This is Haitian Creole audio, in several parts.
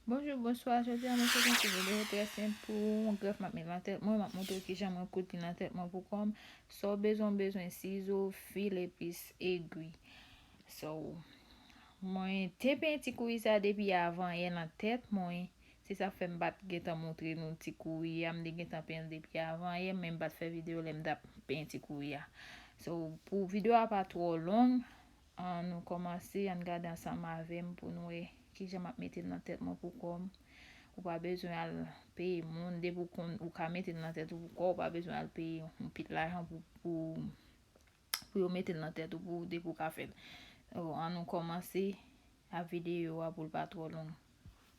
Bonjou, bonswa, jodi an mwen fè yon ti video trè senp pou yon grèf map met nan tèt mwen, map montre w kijan mwen koud li nan tèt mwen pou kòm, sa w bezwen w bezwen sizo, fil epis egwi. So, mwen te penti kouri sa depi avan yè nan tèt mwen, Se sak fè m pat gentan moutre nou ti kouri a, m te gentan penyen l depi avan yè men m pat fè video lè m tap penyen ti kouri a. So pou video a pa twò long an nou kòmanse ann gade ansanm avè m pou n wè kijan map mete l nan tèt mwen pou kò m. Ou pa bezwen al peye moun depi w konn ou ka mete l nan tèt ou pou kò w pa bezwen al peye yon pil lajan pou pou pou yo mete l nan tèt ou pou w depi w ka fè l. An nou kòmanse a video a pou l pa twò long.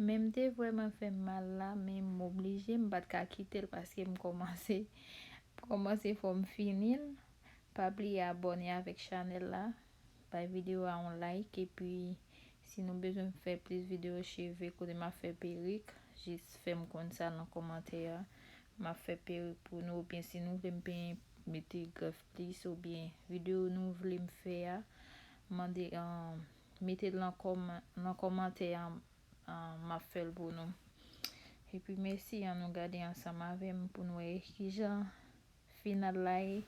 Menmte vreman fè m mal la men m oblije m pat ka kite l paske m komanse m komanse fò m fini l pa bliye abone avèk chanèl la. Bay video a yon like epi si nou bezwen m fè plis video cheve kote map fè perik jis fèm konn sa nan kòmantè a map fè perik pou nou oubyen si nou vle m penyen mete grèf plis oubyen video nou vle m fè a mande metel nan kòmantè a map fèl pou nou epi mèsi an nou gade ansanm avèm poun wè kijan final la ye.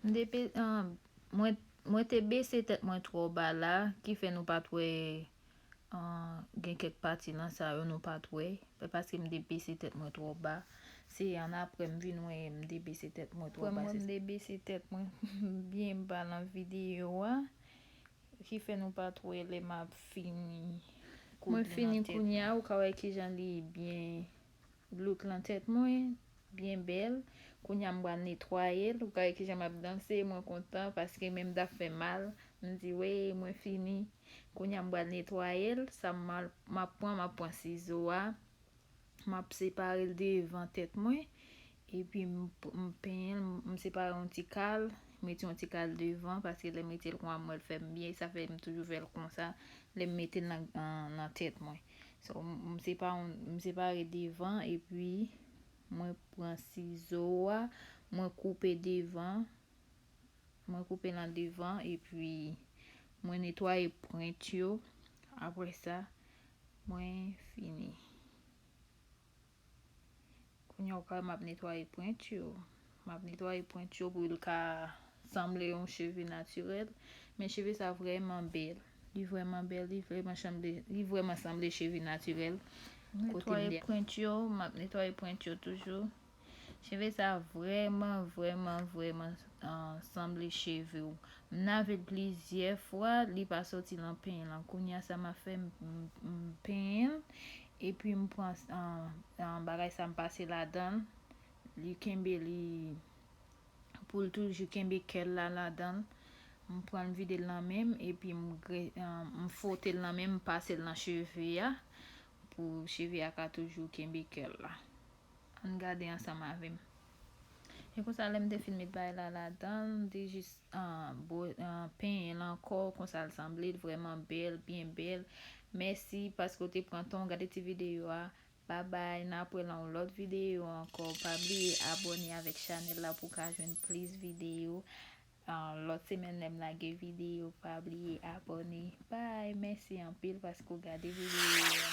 M te pe, mwen, mwen te bese tèt mwen twò ba la, ki fè nou pa t wè Gen kèk pati nan sa yo nou pat wè. Se paske m te bese tèt mwen twò ba. Se an apre m vin wè m te bese tèt mwen twò ba. Apre mwen m te bese tèt mwen byen ba nan videyo a. Ki fè nou pat wè lè m ap fini koud li nan tèt mwen. Mwen fini kounya ou ka wè kijan li byen. Look lan tèt mwen byen bèl kounya m pral netwayel ou gade kijan map danse mwen kontan paske menm daf fèm mal m di weyy mwen fini kounya m pral netwayel sa map pran map pran sizo a map separel devan tèt mwen epi m penyenl m separe yon ti kal m mete yon ti kal devan paske lèm metel konwa m wèl fèm byen sa fèm toujou fèl konsa lèm metel nan tèt mwen So m se pa yon, m separe devan epi mwen pran sizo a, mwen koupe devan, mwen koupe nan devan epi mwen netwaye pwent yo, aprè sa mwen fini. Kounye a ou ka wè map netwaye pwent yo. Map netwaye pwent yo pou l ka sanble yon cheve natirèl. Men cheve sa vrèman bèl. Li vrèman bèl, li vrèman chanble, li vrèman sanble cheve natirèl. Netwaye pwent yo, map netwaye pwent yo toujou. Cheve sa vrèman, vrèman, vrèman sanble cheve ou. M nave l plizyè fwa, li pa soti lan penyen lan. Kounye a sa ma fè m penyen l. Epi m pran bagay sa m pase ladan l, li kenbe li pou l toujou kenbe kè l la ladan l. M pran m vide l nan men m epi m fwote l nan men m, m pase l nan cheve a pou cheve a ka toujou kenbe kè l la. Ann gade ansanm avè m. E konsa lè m te fin met bay la ladan l, m te jis penyen l ankò konsa l sanble l vrèman bèl, byen bèl. Mèsi paske w te pran tan w gade ti videyo a. Babay, n ap wè nan yon lòt videyo ankò. Pa bliye abòne avèk chanèl la pou w ka jwenn plis videyo. Lòt semèn lè m lage videyo pa bliye abòne. Bay, mèsi anpil paske w gade videyo a.